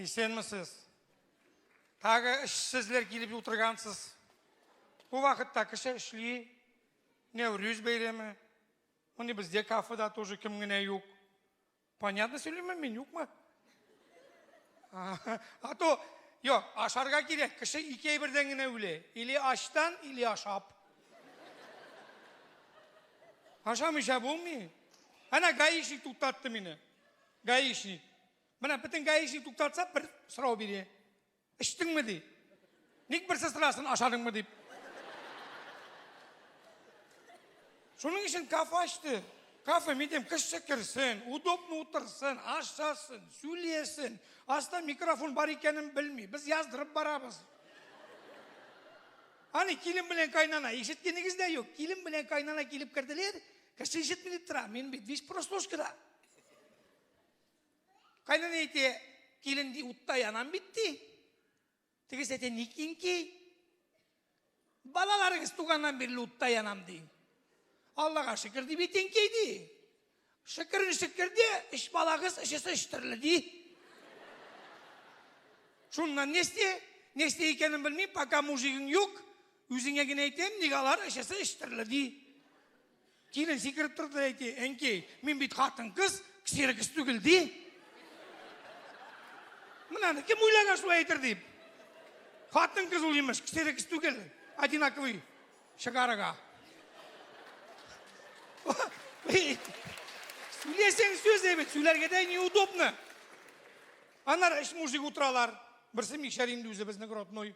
Исәнмесез. Тагы эшсезләр килеп утыргансыз. Бу вакытта кеше эшли. Нәүрүз бәйрәме. Моны бездә кафеда тоже кем генә юк. Понятно сөйлиме мин юкмы? А то, юк, ашарга кирәк. Кеше ике әйбердән генә үлә. Или ачтан, или ашап. Ашамыйча булмый. Әнә гаишник туктатты мине. Гаишник. Менә бөтен гаишник туктатса, бер сорау бирә. Эчтеңме ди? Ник берсе сорасын, ашадыңмы дип. Шуның өчен кафе ачты. Кафе, мин дим, кеше керсен, удобно утырсын, ашасын, сөйләсен. Аста микрофон бар икәнен белми. Без яздырып барабыз. Аны килен белән кайнана, ишеткәнегез дә юк. Килен белән кайнана килеп керделәр, Кеше ишетми дип тора, мин бит биш прослушкада. Кайнан әйтә, килен ди утта янам бит ди. Тегесе әйтә, ник инки? Балаларыгыз туганнан бирле утта янам ди. Аллага шөкер дип әйтенки ди. Шөкер шөкер ди, өч балагыз өчесе өч төрле ди. Шуннан нести? Нести икәнен белмим, пока мужигың юк, Үзеңә генә әйтәм, ник алар эчәсе эчтерле ди. Килен сикереп торды да әйтте, әнкәй, мин бит хатын-кыз, ксерокс түгел ди. Менә кем уйлаган шулай әйтер дип. Хатын-кыз ул имеш, ксерокс түгел, одинаковый шыгарыга. Сөйлесең сүз әйбәт, сөйләргә дә неудобно. Анар эш мужик утыралар. Берсе микшәр инде үзебезнең родной.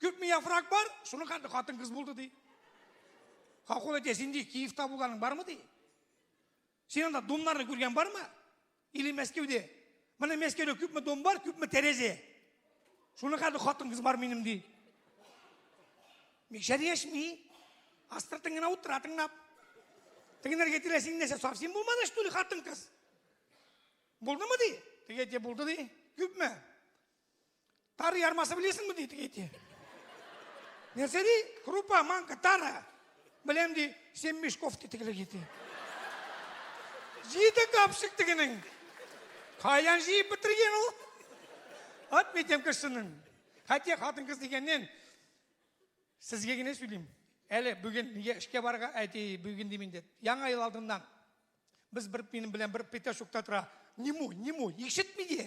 Күпме яфрак бар? Шуны хәтта хатын кыз булды ди. Хакул әйтә, син ди Киевта булганың бармы ди? Син анда домнарны күргән бармы? Или Мәскәүдә? Менә Мәскәүдә күпме дом бар, күпме тәрәзә? Шуны хәтта хатын кыз бар минем ди. Микшәр яшми. Астыртын гына утыра тыңлап. Тегенәргә тирә син нәрсә совсем булмады что ли хатын кыз? Булдымы ди? Теге әйтә булды ди. Күпме? Тары ярмасы белесеңме ди теге әйтә. Нәрсә ди? Крупа, манка, тары. Беләм ди, сен Мешков ди тегелек әйтә. Җиде капшык тегенең. Каян җыеп бетергән ул? Ат митем кешенең. Хәтта хатын кыз дигәннән сезгә генә сөйлим. Әле бүген нигә эшкә барырга әти бүген дим инде. Яңа ел алдыннан без бер минем белән бер петашукта тора. Ниму, ниму, ишетми ди.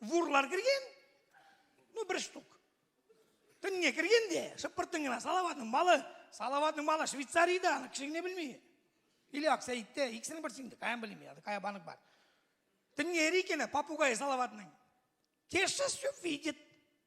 Вурлар кергән, ну бер штук. Төнгә кергән дә, шыпыртын гына Салаватның малы, Салаватның малы Швейцариядә, аны кеше генә белми. Или Аксәйттә, икесенең берсе инде, каян белми, аны кая банк бар. Төнге икене попугай Салаватның. Кеше все видит.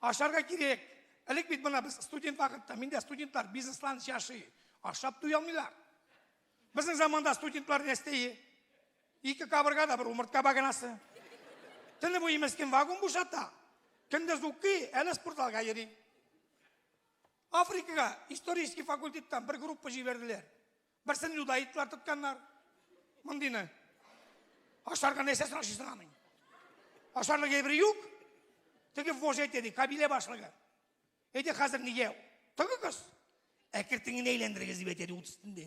Ашарга кирәк. Элек бит мына без студент вакытта, миндә студентлар бизнеслан яши. Ашап туя алмыйлар. Безнең заманда студентлар нәрсәе? Ике кабырга да бер умыртка баганасы. Төне буе мескен вагон бушата. Көндез укый, әле спортзалга йөри. Африкага исторический факультеттан бер группа җибәрделәр. Берсен юдаитлар тотканнар. Мондыйны. Ашарга нәрсәсен ашыйсың аның? Ашарлык әйбер юк. Теге вождь әйтә ди, кабилә башлыгы. Әйдә хәзер нигә? Тыгыгыз. Әкертеңне әйләндерегез дип әйтә ди ут өстендә.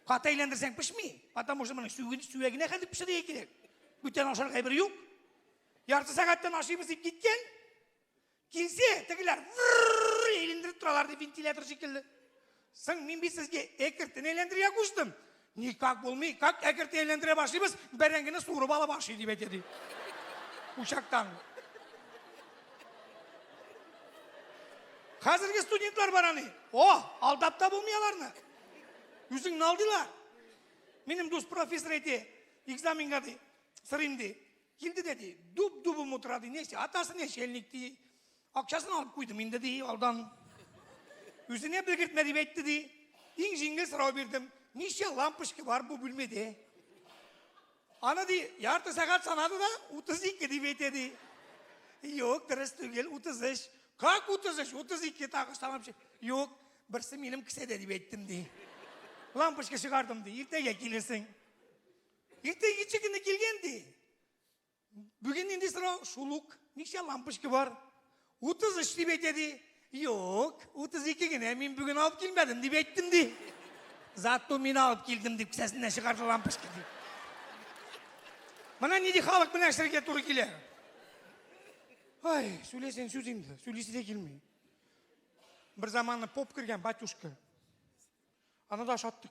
Каты әйләндерсәң пешми. Потому что моның сүген сүгенә хәзер пешерергә кирәк. Бүтән ашарга әйбер юк. Ярты сәгатьтән ашыйбыз дип киткән. Килсә, тегеләр вррррр әйләндереп торалар ди вентилятор шикелле. Соң мин бит сезгә әкертен әйләндерергә куштым. Никак булмый, как әкертен әйләндерә башлыйбыз, бәрәңгене суырып ала башлый дип әйтә ди. Учактан. Хәзерге студентлар бар аны. О, алдап та булмый аларны. Үзең налдыйлар. Минем дус профессор әйтә, экзаменга ди, сырыйм ди. Инде дә ди, дуб-дубым утыра ди, нече, атасы нечельник ди. Акчасын алып куйдым инде ди, алдан. Үзенә белгертмә дип әйтте ди. Иң җиңел сорау бирдем. Ничә лампочка бар бу бүлмәдә? Аны ди, ярты сәгать санады да, 32 дип әйтә ди. Юк, дөрес түгел, 33. Как 33? 32 тагы санап чык. Юк, берсе минем кесәдә дип әйттем ди. Лампочка чыгардым ди, иртәгә килерсең. Иртә ничек кенә килгән ди. Бүген нинди сорау? Шул ук. Ничә лампочка бар? 33 дип әйтә ди. Юк, 32 генә мин бүген алып килмәдем дип әйттем ди. Зато мин алып килдем дип кесәсеннән чыгарды лампочка дип. Менә нинди халык белән эшләргә туры килә. Ай, сөйләсәң сүз инде, сөйлисе дә килми. Бер заманы поп кергән батюшка. Аны да ашаттык.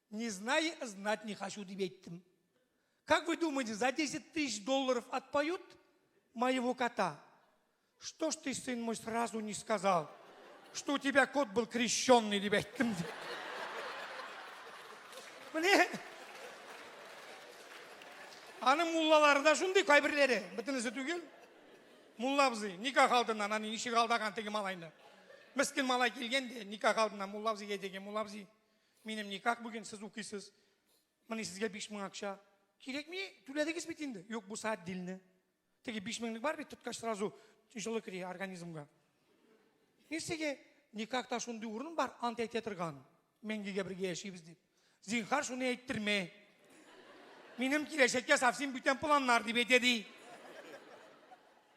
Не знаю, знать не хочу, дип әйттем. Как вы думаете, за 10 тысяч долларов отпоют моего кота? Что ж ты, сын мой, сразу не сказал, что у тебя кот был крещенный, дип әйттем. Міне, аны муллалары да шундый кайберләре, бөтенесе түгел. Мулла абзый, никах алдыннан, аны ничек алдаган теге малайны. Мескин малай килгән де, никах алдыннан мулла абзыйга әйтә мулла абзый, Минем никак бүген сез укыйсыз. Менә сезгә 5000 акча. Кирәкми, түләдегез бит инде. Юк, бу саат дилне. Теге 5000лек бар бит, тоткач сразу җылы кери организмга. Мин сезгә никак та шундый урын бар, ант әйтә торган. Мәңгегә бергә яшибез дип. Зинхар шуны әйттермә. Минем киләчәккә совсем бүтән планнар дип әйтә ди.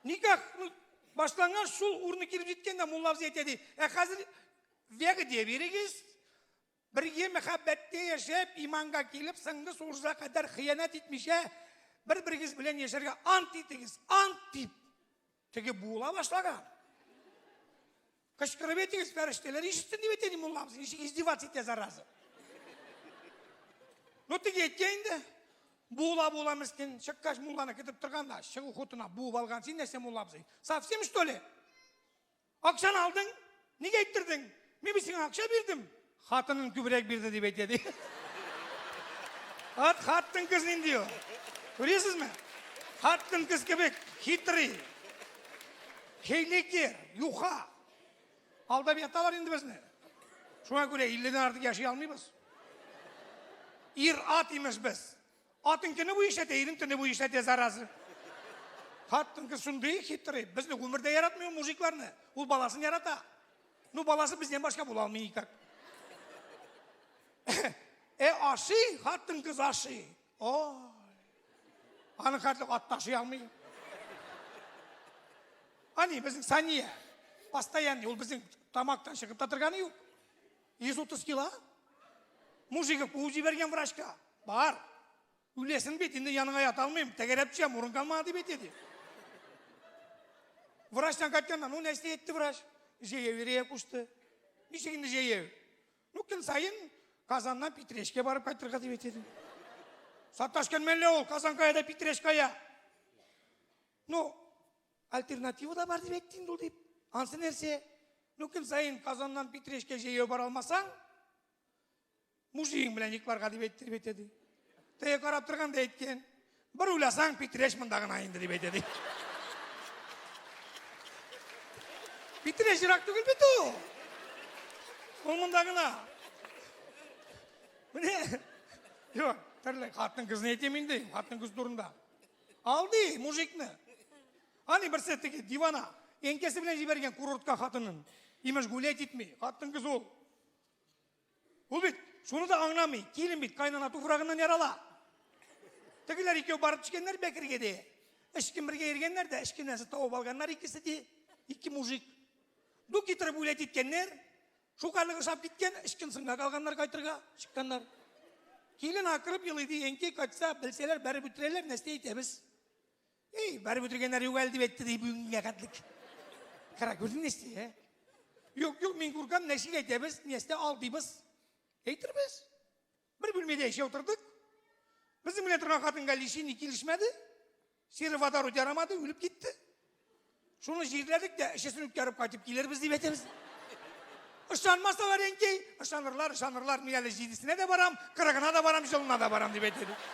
Никак башланган шул урыны килеп җиткәндә мулла абзый әйтә ди. Ә хәзер Вәгъдә бирегез, бергә мәхәббәттә яшәп, иманга килеп, соңгы сугышка кадәр хыянәт итмичә, бер-берегез белән яшәргә ант итегез, ант дип. Теге була башлаган. Кычкырып әйтегез, фәрештәләр ишетсен дип әйтә, мулламыз, ничек издеваться итә, зараза. Ну, теге әйткән инде. Була була мискин, чыккач мулланы көтеп торганда, чыгу хутына буып алган син нәрсә муллабыз. Совсем что ли? Акчаны алдың, нигә әйттердең? Мин бит сиңа акча бирдем. Хатының күбрәк бирде дип әйтә ди. Ат хаттын кыз нинди ул? Күрәсезме? Хаттын кыз кебек хитрый. Хейлеке, юха. Алдап яталар инде безне. Шуңа күрә 50 дән артык яши алмыйбыз. Ир ат имеш без. Атың көне буе эшләтә, ирең төне буе эшләтә, зараза. Хатын кыз шундый хитрый. Безне гомердә яратмый ул мужикларны. Ул баласын ярата. Ну, баласы бездән башка була алмый никак. Э, ашый, хатын кыз ашый. О. Аны хәтле ат ташый алмый. Ани, безнең Сания. Постоянный, ул безнең тамактан чыгып та торганы юк. 130 кило? Мужик куып җибәргән врачка. Бар. Үләсен бит, инде яныңа ята алмыйм, тәгәрәп төшәм, урын калмады дип әйтә ди. Врачтан кайтканнан, ну нәрсә әйтте врач? Җәяү йөрергә кушты. Ничек инде җәяү? Ну көн саен Казаннан Питрәшкә барып кайтырга дип әйтә ди. Саташкан мәллә ул, Казан кая да Питрәш кая. Ну, Альтернатива да бар дип әйтте инде ул дип. Ансы нәрсә? Ну көн саен Казаннан Питрәшкә җәяү бара алмасаң, мужигың белән йокларга дип әйтте дип әйтә ди. Тәя карап торган да әйткән. Бер уйласаң, Питрәш монда гына инде дип әйтә ди. Питрәш ерак түгел бит ул. Ул монда гына. Менә. Юк, төрле хатын кызны әйтәм инде, хатын кыз турында. Алды мужикны. Ани берсе теге дивана энкәсе белән җибәргән курортка хатынын. Имеш гулять итми. Хатын кыз ул. Ул бит шуны да аңламый. Килен бит кайнана туфрагыннан ярала. Тегеләр икәү барып төшкәннәр Бәкергә ди. Эшкем бергә йөргәннәр дә эшкемнәрсе тавып алганнар икесе ди. Ике мужик. Ду китереп үләт иткәннәр. Шул хәле ошап киткән, ычкынсынга калганнар кайтырга, чыкканнар. Килен акырып елый ди, әнкәй кайтса, белсәләр, бәреп үтерәләр, нәрсә әйтәбез? Эй, бәреп үтергәннәр юк әле дип әйтте ди бүгенгә хәтлек. Кара күрдең нәрсә, ә? Юк, юк, мин күркәм, нәрсә әйтәбез, нәрсә алдыйбыз? Әйтербез. Бер бүлмәдә яшәп утырдык. Безнең белән торган хатынга лечение килешмәде. Сероводород ярамады, үлеп китте. Шуны җирләдек тә, эчесен үткәреп кайтып килербез дип әйтәбез. Ышанмасалар инде, ышанырлар, ышанырлар. Мин әле җидесенә дә барам, кырыгына да барам, җылына да барам дип әйтәбез.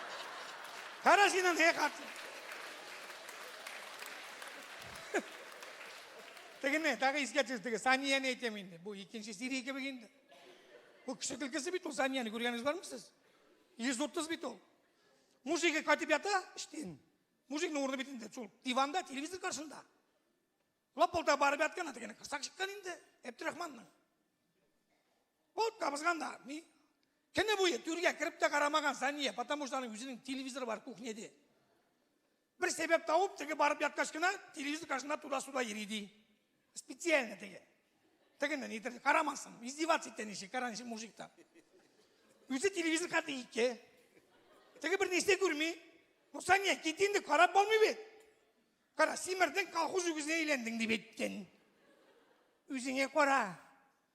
Кара синең не хатын. Тегене, тагы искә төшердегез. Санияне әйтәм инде. Бу икенче серия кебек инде. Бу кеше көлкесе бит ул Санияне күргәнегез бармы сез? 130 бит ул. Мужигы кайтып ята, иштин. Мужикның урыны бит инде шул диванда, телевизор каршында. Лапылда барып яткан ата генә кырсак чыккан инде Әбдрахманның. Бот табызган да, ни? Кене буе түргә кереп тә карамаган Сания, потому что аның үзенең телевизоры бар кухняде. Бер сәбәп табып, теге барып яткач кына телевизор каршында туда-суда йөри ди. Специально теге. Тегене нидер карамасын. Издеваться итә ничек, кара ничек мужик та. Үзе телевизор карты ике. Теге бер нәрсә күрми. Ну, Саня, кит инде, карап булмый бит. Кара, симердең, колхоз үгезенә әйләндең дип әйткән. Үзеңә кара.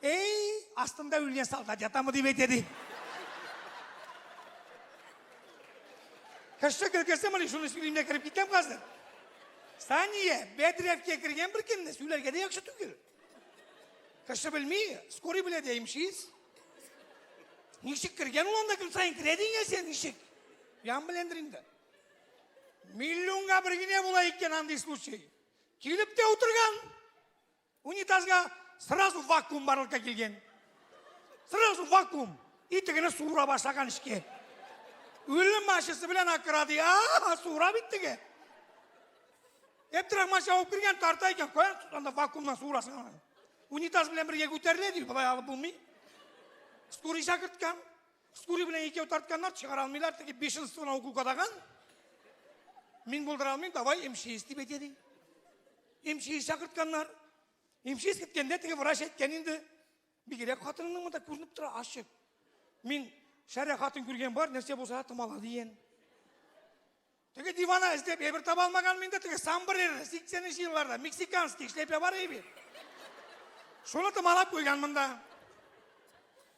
Әй, астында үлгән солдат ятамы дип әйтә ди. Кеше көлкесе мыни шуны сөйлим дә кереп китәм хәзер. Сания, бәдрәфкә кергән бер кемне сүләргә дә яхшы түгел. Кеше белми, скорый белә дә имшиз. Ничек кергән ул анда көн саен керә дигән сен ничек? Ян беләндер инде. Миллионга бер генә була икән андый случай. Килеп тә утырган. Унитазга сразу вакуум барлыкка килгән. Сразу вакуум. Итегене суыра башлаган эчке. Үлем машинасы белән акырады. А, суыра бит теге. Әптирах машина алып кергән тарта икән. Кая анда вакуумнан суырасың аны? Унитаз белән бергә күтәрелә ди, болай алып булмый. Скорый чакырткан. Скорый белән икәү тартканнар, чыгара алмыйлар, теге бешенствоны укол кадаган. Мин булдыра алмыйм, давай МЧС дип әйтә ди. Имчиз чакыртканнар. Имчиз киткәндә теге врач әйткән инде. Бигрәк хатынының монда күренеп тора ачык. Мин шәрә хатын күргән бар, нәрсә булса томала дигән. Теге дивана эзләп әйбер таба алмаган мин дә теге самбрер 80 нче елларда мексиканский эшләпә бар иде. Шуны томалап куйган монда.